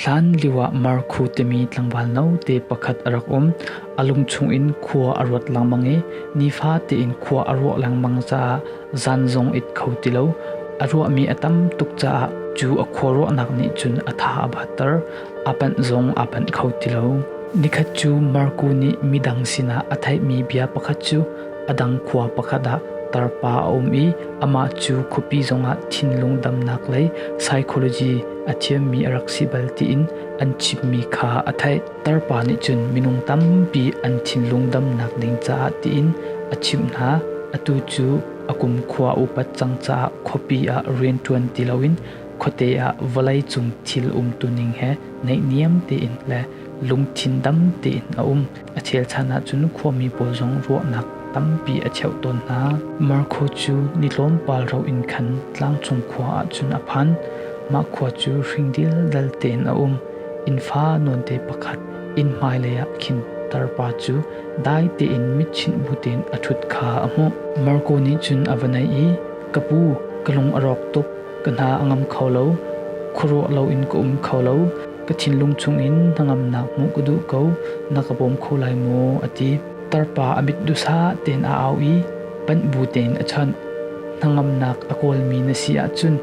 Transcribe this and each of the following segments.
Hlanlio ah Markhu timi tlangval note pakhat a rak um. A lung chungin khua a ruat lengmang i nifa tein khua a ruah lengmang caah zan zong it kho ti lo. A ruahmi a tam tuk caah cu a khuaruahnak nih cun a tha a batter. A panh zong aa panh kho ti lo. Nikhat cu Markhu nih midang sinah a theihmi bia pakhat cu A dang khua pakhat ah tarpa a um i amah cu khuapi zongah thinlung damnak lei psychology a thiammi a rak si bal tiin an chimmi kha a theih. Tarpa nih cun minung tampi an thinlung damnak ding caah tiin a chimh hna. Atu cu a kumkhua upat cang caah khuapi ah rianṭuan ti loin khuate ah vawleicung thil umtuning he naihniam tein le lungthin dam tein a um. A chelchan ahcun khuami pawl zong ruahnak tampi a cheuh tawn hna. Marco cu ni tlawmpal ro in khan tlangcung khua ahcun a phan. Mah khua cu hringdil dal tein a um. Innfa nawnte pakhat inn hmailei ah khin tarpa cu dai tein mitchinh bu tein a ṭhut kha a hmuh. Marco nih cun a va naih i, Ka pu, ka lung a rawk tuk. Ka hna a ngam kho lo. Khuaruah loin ka um kho lo. ka thinlung chungin hnangamnak hmuh ka duh ko, na ka bawm kho lai maw? a ti. Tarpa a mit duhsah tein a au i panh bu tein a chawnh. Hnangamnak a kawlmi na si ahcun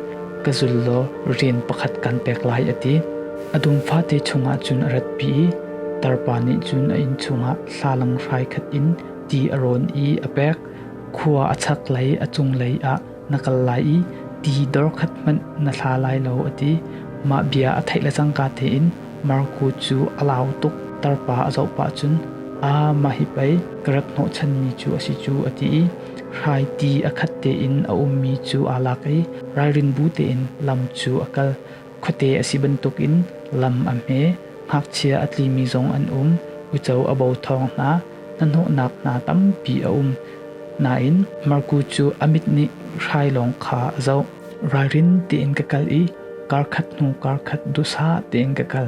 ka zul law rian pakhat kan pek lai a ti. A dum fate chungah cun a ratpi i tarpa nih cun a inn chungah thlalang hrai khat in ti a rawn i a pek. Khua a chak lei a cunglei ah Na kal lai i ti dor khat hmanh na thla lai lo, a ti. Mah bia a theih le cangka tein Marku cu a lau tuk. Tarpa a zoh pah cun, Aa, mah hi pei ka rak hnawhchanmi cu a si cu, a ti i hrai ti a khat tein a ummi cu aa lak i ralrinbu tein lam cu a kal. Khuate a si bantukin lam a hme, ngakchia a tlimi zong an um, uico a bo thawng hna, hnahnawhnak hna tampi a um. Nain Marku cu a mit nih hrai lawng kha a zoh. Ralrin tein ka kal i karkhat hnu karkhat dusa tein ka kal.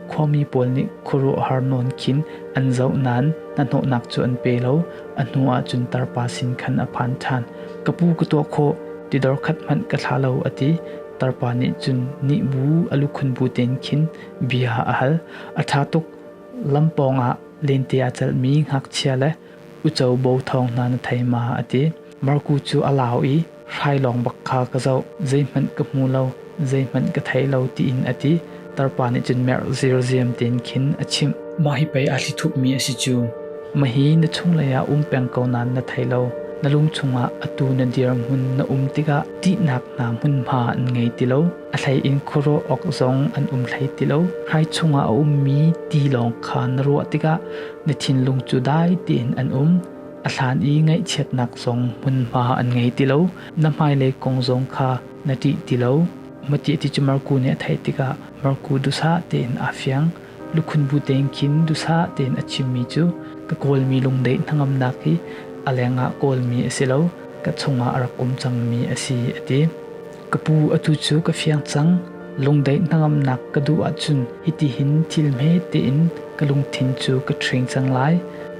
Khuami pawl nih khuaruahhar nawn khin an zoh nain hnahnawhnak cu an pe lo. A hnu ah cun tarpa sin khan a phan ṭhan. Ka pu ka tuah khawh, tidor khat hmanh ka thla lo a ti. Tarpa nih cun nih bu a lukhun bu tein khin bia a hal. A ṭha tuk, lam pawngah lente aa celhmi ngakchia le uco bo thawng hna na thei ma? a ti. Marku cu a lau i, Hrai lawng bak kha ka zoh, zeihmanh ka hmu lo, zeihmanh ka thei lo, tiin a ti. Tarpa nih cun merh zirziam tein khin a chimh. Mah hi pei aa thli thuhmi a si cu. Mahi na chunglei ah um peng ko nain na thei lo. Na lung chungah atu na dirhmun na um tikah ṭihnak hna hmunhma an ngei ti lo. A hleiin khuaruah awk zong an um hlei ti lo. Hrai chungah a ummi ti lawng kha na ruah tikah na thinlung cu dai tein an um. A hlan i ngaihchiatnak zong hmunhma an ngei ti lo. Na hmailei kong zong kha Na ṭih ti lo. Matiah ti cu Marku nih a theih tikah Marku duhsah tein aa fiang. Lukhun bu tein khin duhsah tein a chimmi cu ka kawlmi lungdeih hnangamnak hi a lengah kawlmi a si lo, ka chungah a rak um cangmi a si, a ti. Ka pu, atu cu ka fiang cang. Lungdeih hnangamnak ka duh ahcun hitihin thil hme tein ka lungthin cu ka ṭhing cang lai.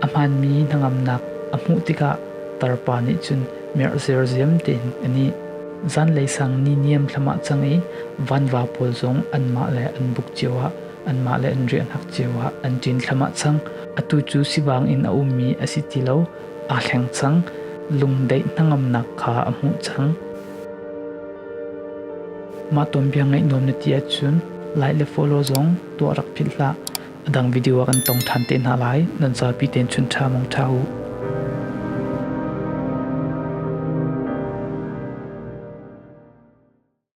A hmaanmi hnangamnak a hmuh tikah tarpa nih cun, merh zirziam tein an i. Zanlei sang ni niam thlam ah cang i vanva pawl zong anmah le an buk cio ah anmah le an riahnak cio ah an ṭin thlam ah cang. Atu cu sibang in a ummi a si ti lo, aa thleng cang. Lungdeih hnangamnak kha a hmuh cang. Mah ton biang ngaih nuam na ti ahcun lai le fawlaw zong tuah rak philh hlah. a dang video ah kan tong ṭhan te hna lai. Nan zapi tein chun ṭha mong ṭha u.